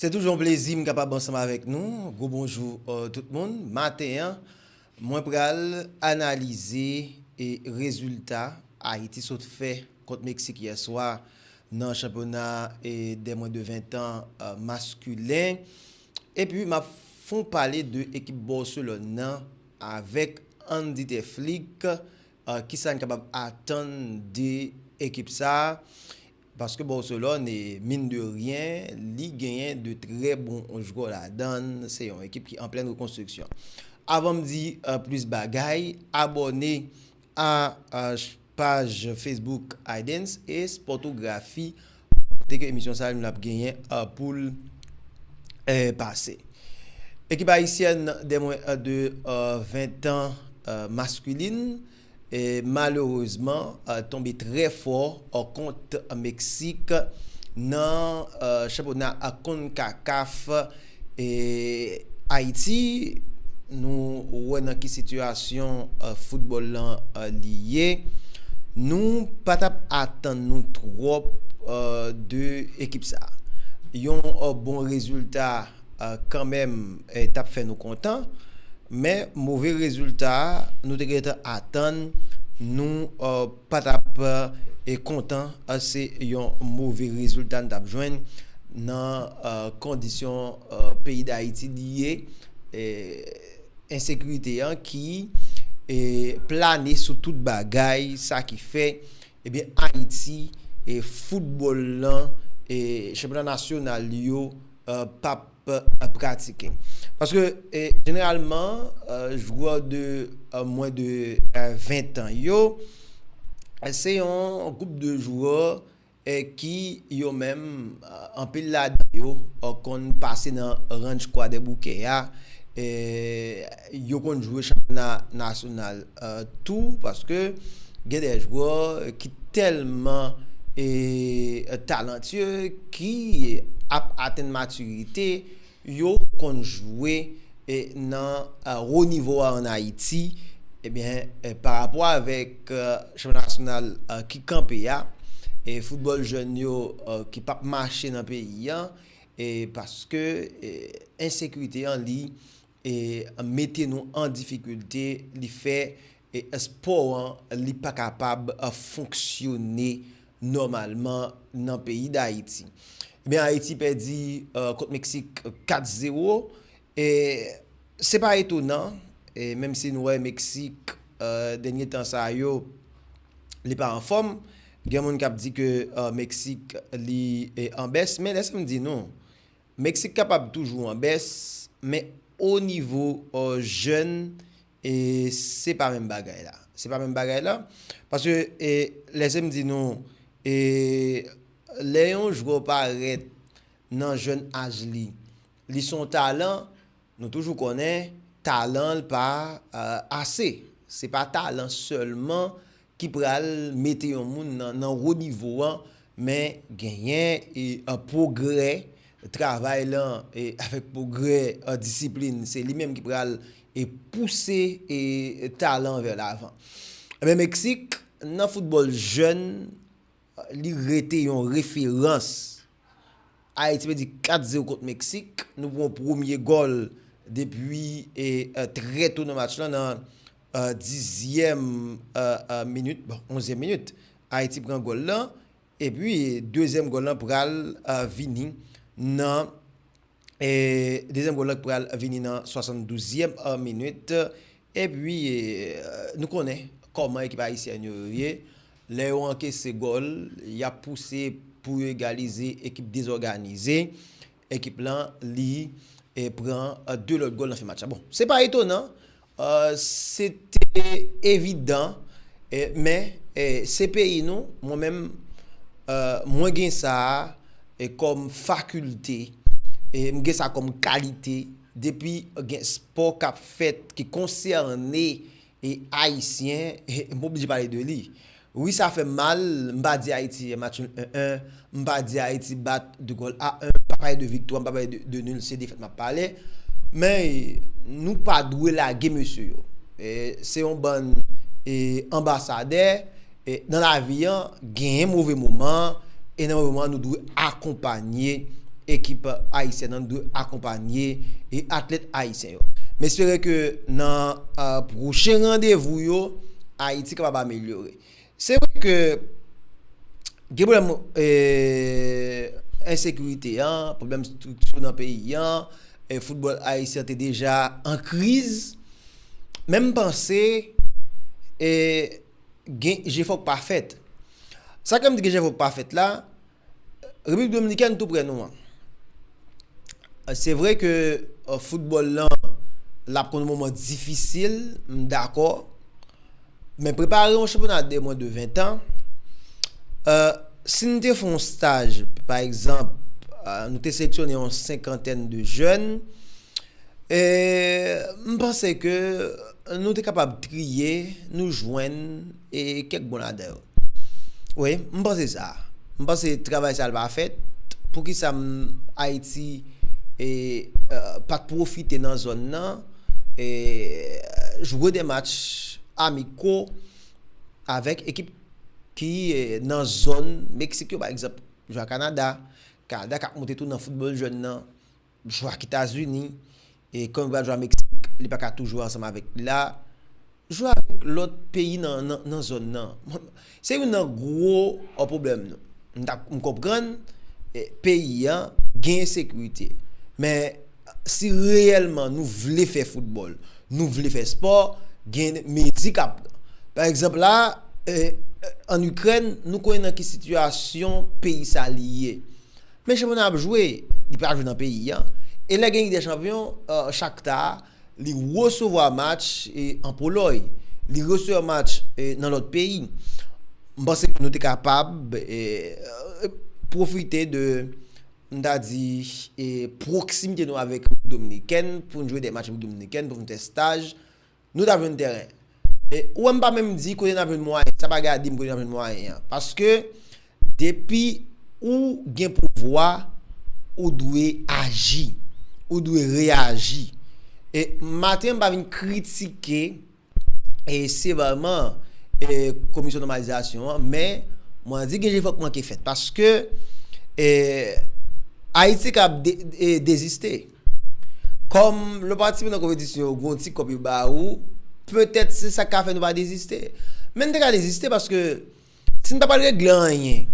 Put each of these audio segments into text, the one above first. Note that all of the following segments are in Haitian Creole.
Se toujou yon plezi m kapab ansanm avèk nou. Gwo bonjou tout moun. Maten an, mwen pral analize e rezilta Ayiti sot fè kont Meksik yè swa nan chanpyona e dè mwen de 20 tan maskulen. Epi m ap fon pale de ekip Bòselòn nan avèk Andy Teflik. Kisa n kapab atann de ekip sa a? Paske Barcelone, mine de rien, li genyen 2 trè bon jwè ladan l, se yon ekip ki an plèn rekonstriksyon. Avan m di plis bagay, abòne a paj Facebook Aydens e Sportographie kote ke emisyon sa nou ap genyen pou l pase. Ekip ayisyèn de mwen de 20 tan maskulin malerezman tonbe trè fò kont Meksik nan chanpyona Concacaf Ayiti nou wè nan ki sitiyasyon foutbòl lan li ye nou pa t ap atann nou twòp de ekip sa yon bon rezilta. kanmenm tap fè nou kontan men move rezilta a nou te gentan atann nou pa tap kontan se yon move rezilta nou tap jwenn nan kondisyon peyi dayiti li ye ensekirite an ki plane sou tout bagay sa ki fè Ebyen Ayiti e foutbòl lan e chanpyona nasyonal li yo pap pratike. Paske jeneralman jwè de mwen de 20 tan yo se yon gwoup de jwè ki yo menm anpil ladan yo konn pase nan ranch kwadèboukè a. Yo konn jwe chanpyona nasyonal tou paske gen de jwè ki tèlman talantye ki ap atenn matirite yo konn jwe nan wo nivo a an Ayiti ebyen parapò avèk chanpyona nasyonal ki kanpe a e foutbòl jèn yo ki pap mache nan peyi an e paske ensekirite an li e mete nou an difikilte li fè espò an li pa kapab fonksyone nòmalman nan peyi Dayiti. Ebyen Ayiti pèdi kont Meksik 4 zero e se pa etonan e menm si nou wè Meksik dènye tan sa yo li pa anfòm gen moun k ap di ke Meksik li anbès men lè sa m di nou Meksik kapab toujou an bès, men o nivo jèn e se pa menm bagay la. Se pa menm bagay la, paske e lèse m di nou e lè yon jwè parèt nan jèn aj li, li se yon talan, nou toujou konnen talan l pa ase. Se pa talan sèlman ki pral mete yon moun nan wo nivo an men genyen pwogrè travay lan avèk pwogrè disiplin se li menm ki pral pouse talan vè lavan. Meksik nan foutbòl jèn Li rete yon referans. Ayiti pèdi 4 zero kont Meksik. Nou pran premye gòl depi trè to nan match lan nan dizyèm minit, bon onzyèm minit Ayiti pran gòl lan. Epi dezyèm gòl lan pral vini nan. Dezyèm gòl la ki pral vini nan 72 zièm minit epi nou konnen kòman ekip ayisyèn yo ye lè yo ankese gòl yap pouse pou yo egalize ekip dezòganize ekip lan li pran 2 lòt gòl nan fen match la bon se pa etonan Se te evidan, men se peyi nou, mwen menm mwen gen sa a kòm fakilte, m gen sa kòm kalite, depi gen spò k ap fèt ki konsène Ayisyen, m oblije pale de li. Wi sa fèm mal, m pa di Ayiti jwe match nul 1 1, m pa di Ayiti bat 2 gòl a 1, m pa pale de viktwa, m pa pale de nul, se defèt map pale, men nou pa dwe lage mesye yo, se yon bann anbasadè, nan lavi an genyen move moman, e nan move moman nou dwe akonpanye ekip ayisyèn an, nou dwe akonpanye atlèt ayisyen yo. yo. M espere ke nan pwochen randevou yo, Ayiti kapab amelyore. Se vre ke gen pwoblèm ensekirite an, pwoblèm estrikti nan peyi an, foutbòl ayisyen te deja an kriz, men m panse gen jefò k pa fèt. Sa ke m di gen jefò k pa fèt la? Repiblik Dominikèn tou prè nou an. Se vre ke foutbòl lan l ap konn moman difisil, m dakò. Men prepare yon chanpyona de mwen de 20 an, si n te fè yon staj, pa egzanp, nou te seleksyone yon senkantèn de jèn, m panse ke nou te kapab triye, nou jwenn kèk bon ladan yo. Wi, m panse sa. M panse travay sa l pa fèt. Poukisa m Ayiti e pa t pwofite nan zòn nan e jwe de match amiko avèk ekip ki nan zòn Meksik yo pa egzanp, jwe ak Kanada, Kanada k ap monte tou nan foutbòl jèn nan. Jwa ki Tazini, e konn bal jwa Meksik, li pa ka tou jwe ansanm avèk li la. Jwe avèk lòt peyi nan zòn nan. Se youn nan gwo pwoblèm nou. M ta m konprann peyi an gen ensekirite. Men, si reyèlman nou vle fè foutbòl, nou vle fè espò, gen mezi k ap pran. Pa egzanp la, ann Ikrèn, nou konnen nan ki sitiyasyon peyi sa li ye. Men chanpyona ap jwe, li pa jwe nan peyi a. E lè gen Lig dè Chanpyon, Shakhtar a, li resevwa match an Polòy, li resevwa match nan lòt peyi. M panse ke nou te kapab pwofite de, m ta di, pwoksimite nou avèk Repiblik Dominikèn pou n jwe de match Repiblik Dominikèn, pou n fè staj nou tap jwenn tèren. E ou wè m pa menm di kote n ap jwenn mwayen, sa pa gen a di m kote n ap jwenn mwayen an. Paske depi ou gen pouvwa, ou dwe aji, ou dwe reyaji. E maten an m pa vin kritike e sevèman e komisyon nòmalizasyon an, men mwen di gen jefò k manke fèt. Paske e Ayiti kab e deziste. Kòm lè w patisipe nan konpetisyon yo gen yon ti kòb yo ba ou, petèt se sa k ka fè nou pa deziste. Men n te ka deziste paske si n pa pral regle anyen,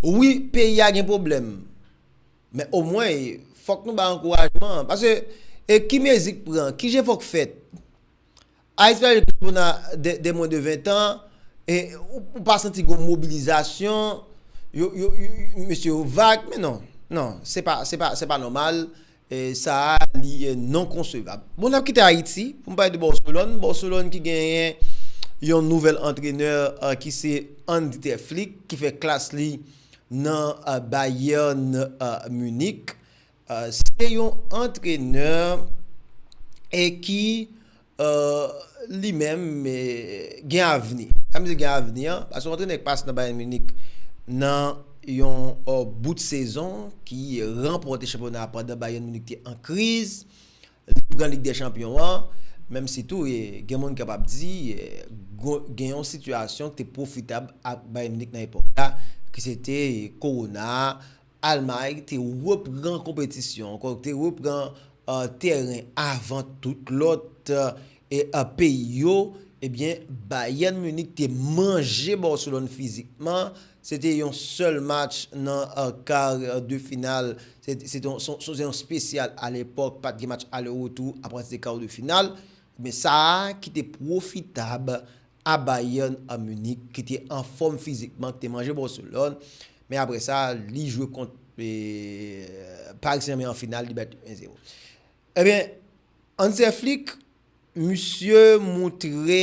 wi peyi a gen pwoblèm men omwen fòk nou bay ankourajman. Paske ki mezi k pran, ki jefò k fèt Ayiti pa gen plis moun a de mwen de 20 tan, e ou pa santi gen yon mobilizasyon, mesye yo vag, men non, non, se pa, se pa, se pa nòmal, e sa a li non konsevab. Bon, n ap kite Ayiti pou n pale de Bòselòn, Bòselòn ki genyen yon nouvèl antrenè ki se Andy Ter Flick ki fè klas li nan Bayern Munich, Se yon antrenè e ki li menm gen avni. Sa vle di gen avni an, paske yon antrenè ki pase nan Bayern Munich nan yon bout sezon ki ranpòte chanpyona a pandan Bayern Munich te an kriz, li pran Lig dè Chanpyon an, menm si tou gen moun kap ap di gen yon sitiyasyon ki te pwofitab ak Bayern Munich nan epòk la ki se te kowona a. Almay te repran konpetisyon an, kòk te repran tèren avan tout lòt peyi yo, ebyen Bayern Munich te manje Barcelone fizikman, se te yon sèl match nan kar de final, se te yon spesyal a lepòk, pat gen match ale retou apati de kar de final, men sa ki te pwofitab. a Bayern an Munich ki te anfòm fizikman ki te manje Barcelone men aprè sa li jwe kont Paris Saint-Germain an final li bat yo 1 zero ebyen Hanser Flick misye moutre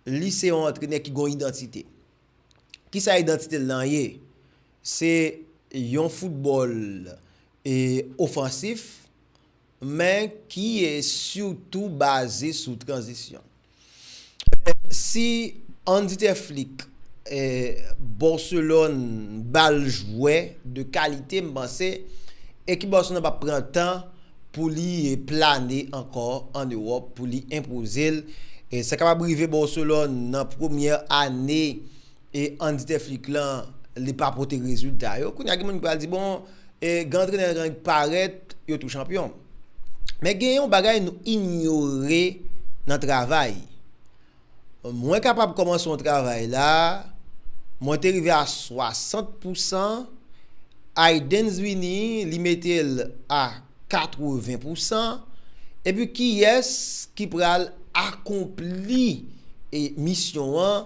li se yon antrenè ki gen yon idantite kisa idantite l lan ye se yon foutbòl ofansif. men ki e sitou baze sou tranzisyon. Ebyen, si Handy Ter Flick e Barcelone ba l jwè de kalite, m panse ekip Barcelone nan p ap pran tan pou li plane ankò an Ewòp pou li enpoze l. Sa kapab rive Barcelone nan premyè ane. e an di te flik lan li pa pote rezilta yo kounya gen moun ki pral di bon e gen antrenè yo ki parèt yo tou chanpyon men gen yon bagay nou inyore nan travay mwen kapab kòmanse yon travay la mwen te rive a 60 pousan Aydens vini li mete l a 80 pousan epi kiyès ki pral akonpli e misyon an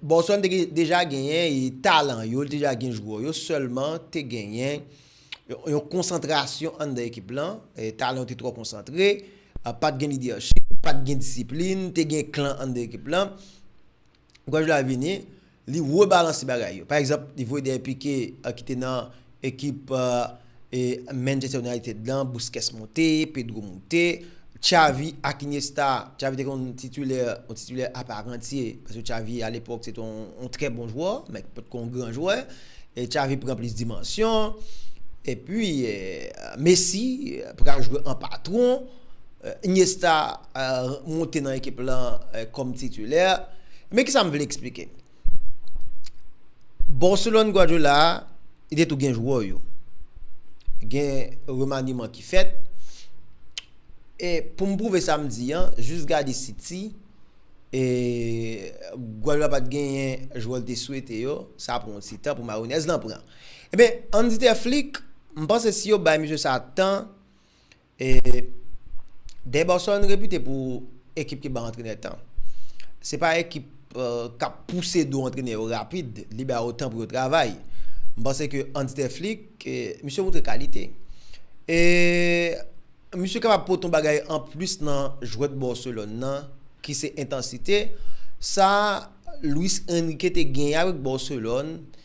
Boston te deja genyen talan yo, li te deja gen jwè yo, sèlman te genyen yon konsantrasyon anndan ekip lan, talan yo te twò konsantre, pa t gen lidèchip, pa t gen disiplin, te gen klan anndan ekip lan. Guardiola vini, li rebalanse bagay yo. Pa egzanp, li voye Derrick Piqué ki te nan Ekip Manchester United lan, Busquets moute, Pedro moute, Xavi ak Iniesta, Xavi te konn titilè, yon titilè aparantye, paske Xavi alepòk se te yon trè bon jwè, men ki pa t ko yon gran jwè, Xavi pran plis dimansyon, epi Messi pral jwe an patwon, Iniesta moute nan ekip lan kòm titilè, men kisa m vle eksplike? Barcelone Guardiola a, li te tou gen jwè yo. Gen remaniman ki fèt. E pou m prouve sa m di an, jis gade City, e Guardiola pa t genyen jwè l te swete yo, sa pran yon ti tan pou mayonèz lan pran. Enben, Hansi Flick, m panse si yo bay mesye sa tan, E Deiborson repite pou ekip ki ban antrenè tan. Se pa ekip k ap pouse do antrenè yo rapid, li ba yo tan pou yo travay. M panse ke Hans De Flick, misye montre kalite. E misye kapab pote yon bagay an plis nan jwèt Barcelone nan ki se entansite. Sa Luis Enrique te genyen avèk Barcelone.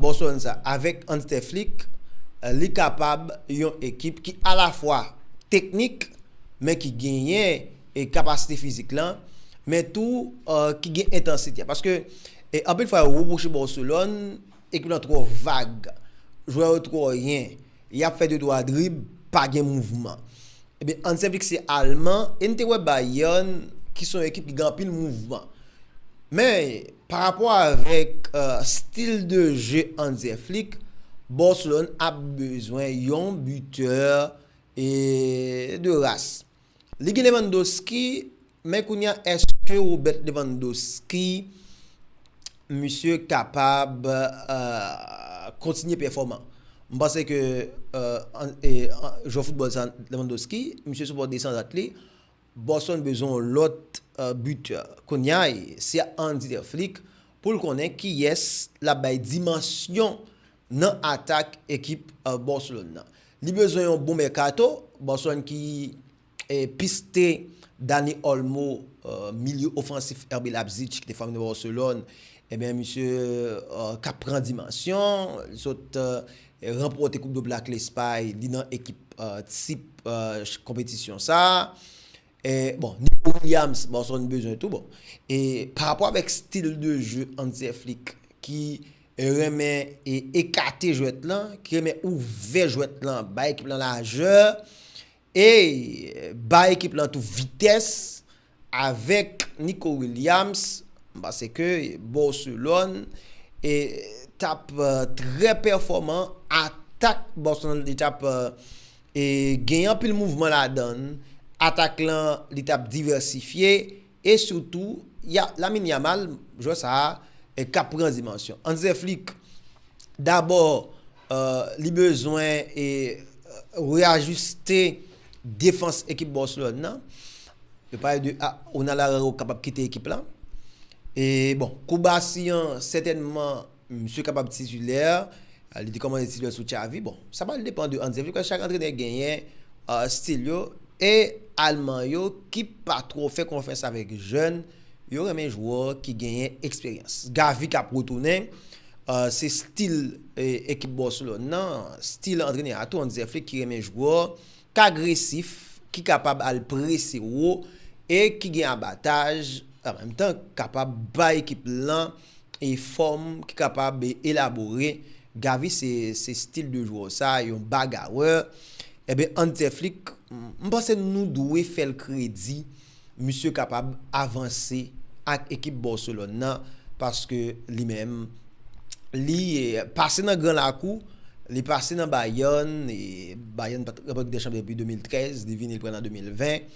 Boston sa avèk Hans The Flick, li kapab yon ekip ki alafwa teknik men ki genyen kapasite fizik lan men tou ki gen entansite a paske anpil fwa yo repwoche Barcelone ekip lan twò vag jwè yo twò yen yap fè 2 twa drib pa gen mouvman ebyen Hans The Flick se alman e n te wè Bayern ki se yon ekip ki gen anpil mouvman men Pa rapò avèk stil de je Hanser Flick, Barcelone ap bezwen yon bitè de ras. Li gen Lewandowski, men kounye a èske Robert Lewandowski misye kapab kontinye pèfòman? M panse ke jwè foutbòl sa Lewandowski, misye sou bò desandat li. Boston bezwen yon lòt buteur kounya se a Hansi de Flick poul konnen kiyès lap bay dimansyon nan atak ekip Barcelone nan. Li bezwen yon bon mèkato, Barcelone ki piste Dani Olmo milye ofansif RB Leipzig ki te fòme nan Barcelone, ebyen misye kap pran dimansyon, li sot Ranpòte koup do Black Lespay li nan ekip tip konpetisyon sa a. Bon Nico Williams Barcelone bezwen tou bon. E pa rapò avèk stil de jeu Hanser Flick ki renmen ekate jwèt lan, ki renmen ouvè jwèt lan bay ekip lan lajè. Ey bay ekip lan tou vitès avèk Nico Williams m panse ke Barcelone tap trè pèfòman atak Barcelone li tap gen anpil mouvman ladann atak lan li tap divèsifye E sitou, ya, Lamine Yamal, jwè sa a k ap pran dimansyon. Hanse Flick, dabò, li bezwen reajiste defans ekip Barcelone nan. Yo pale de Onana Rayo kapab kite ekip la. E bon, Koubassi an sètènman. Misye kapab titulè, li te kòmanse titulè sou Xavi, bon sa pral depan de Hansi Flick, chak antrenè genyen stil yo, e Alman yo ki pa twò fè konfyans avèk jèn, yo renmen jwè ki genyen eksperyans. Xavi kap retounen, se stil ekip Barcelone nan, stil antrenè a tou Hansi Flick ki renmen jwè k agresif, ki kapab al prese wo e ki gen abataj, an menm tan kapab bay ekip lan. e fòm ki kapab elabore, Gavi se se stil de jwè w sa, yon bagarè, enben Hans De Flick m panse nou dwe fè l kredi misye kapab avanse ak ekip Barcelone nan paske li menm li pase nan gran lakou, li pase nan Bayern, Bayern pat ranpòt Lig dè Chanpyon depi 2013, li vini l pran l an 2020.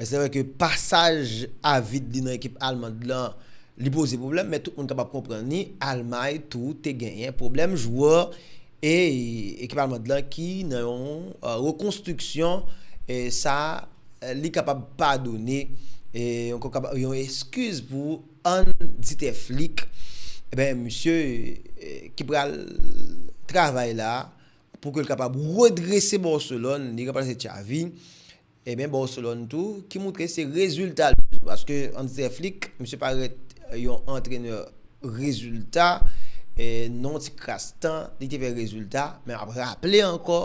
Se vre ke pasaj avid li nan ekip almand lan, li poze pwoblèm, men tout moun kapab konprann li, Almay tou te genyen pwoblèm jwè e ekip almand lan ki nan yon rekonstriksyon, sa li kapab padone, yon eskiz pou Hansi Flick, misye ki pral travay la pou ke li kapab redrese Barcelone, li ranplase Xavi. E men Barcelone tou ki moutre se rezilta l bezwen paske Hans Der Flick misye parèt yon antrenè rezilta e nan yon ti kras tan li te fè rezilta men ap raple ankò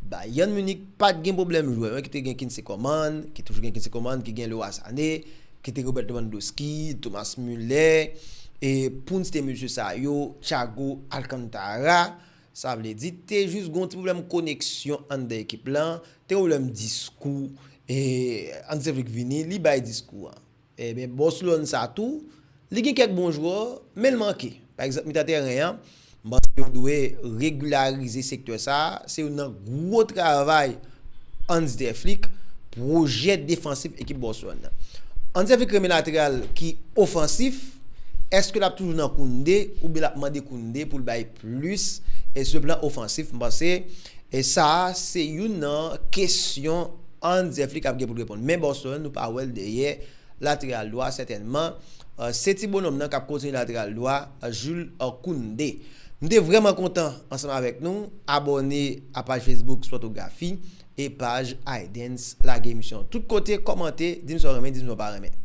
Bayern Munich pa t gen pwoblèm jwè men ki te gen Kingsley Coman ki toujou gen Kingsley Coman ki gen Leroy Sané ki te Robert Lewandowski Thomas Muller e poun site mesye sa yo Thiago Alcantara Sa vle di, te jis gen yon ti pwoblèm koneksyon anndan ekip lan, te gen pwoblèm diskou, e Hansevic vini, li bay diskou an. Ebyen Barcelone sa tou, li gen kèk bon jwè, men l manke. Pa egzanp mitan tèren an, m panse yo dwe regilarize sektè sa, se youn nan gwo travay Hans Der Flick, pwojè defansif ekip Barcelone nan. Hans Der Flick renmen lateral ki ofansif, èske l ap toujou nan Koundé, oubyen l ap mande Koundé pou l bay Plis e sou plan ofansif, m panse e sa a se youn nan kesyon Hans Ze Flick ap gen pou l reponn. Men Boston, nou pa wè l dèyè lateral dwa sètènman. Se ti bononm nan k ap kontinye lateral dwa a Jules Kounde. M te vrèman kontan ansanm avèk nou abòne a paj Facebook Spòtografi e paj Aydens. Lage emisyon an tout kote, kòmante, di m sa w renmen, di m sa w pa renmen.